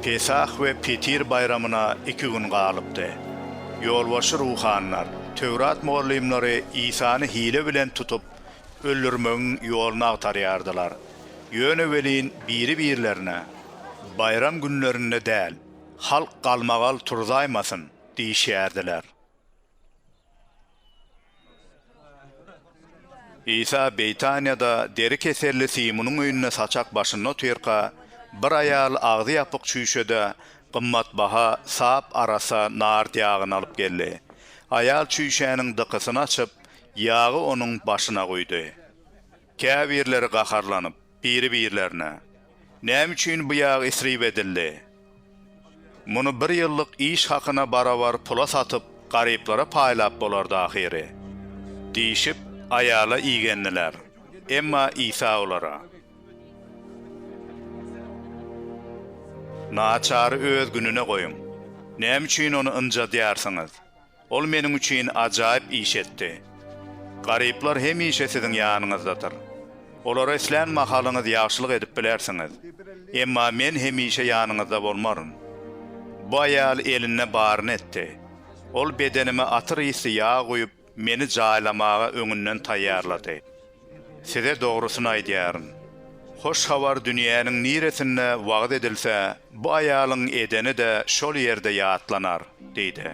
Pesah we Petir baýramyna iki gün galypdy. Ýolbaşçy ruhanylar, Töwrat mugallymlary Isany hile bilen tutup, öldürmegiň ýoluny agtarýardylar. Ýöne welin biri-birlerine, Baýram günlerinde däl, halk galmagal turzaýmasyn! diýişýärdiler. Isa Beýtaniýada deri keselli Simunyň öýünde saçak başynda otyrka, bir aýal agzy ýapyk çüýşede gymmatbaha sap arassa nard ýagyny alyp geldi. Aýal çüýşäniň dykysyny açyp, ýagy onuň başyna guýdy. Käbirleri gaharlanyp, biri-birlerine, Näme üçin bu ýag isrip edildi? Muny bir ýyllyk iş hakyna barabar pula satyp, garyplara paýlap bolardy ahyry. Diýşip, aýala igendiler. Emma Isa olara. Naçary öz gününe goýuň. Näme üçin ony ynjadýarsyňyz? Ol meniň üçin ajaýyp iş etdi. Garyplar hemişe siziň ýanyňyzdadyr. Olara islän mahalyňyz ýagşylyk edip bilersiňiz. Emma men hemişe ýanyňyzda bolmaryn. Bu aýal elinde baryny etdi. Ol bedenime atyr ysly ýag guýup, meni jaýlamaga öňünden taýýarlady. Size dogrusyny aýdýaryn, Hoş Habar dünýäniň niresinde wagyz edilse, bu aýalyň edeni-de şol ýerde ýatlanar diýdi.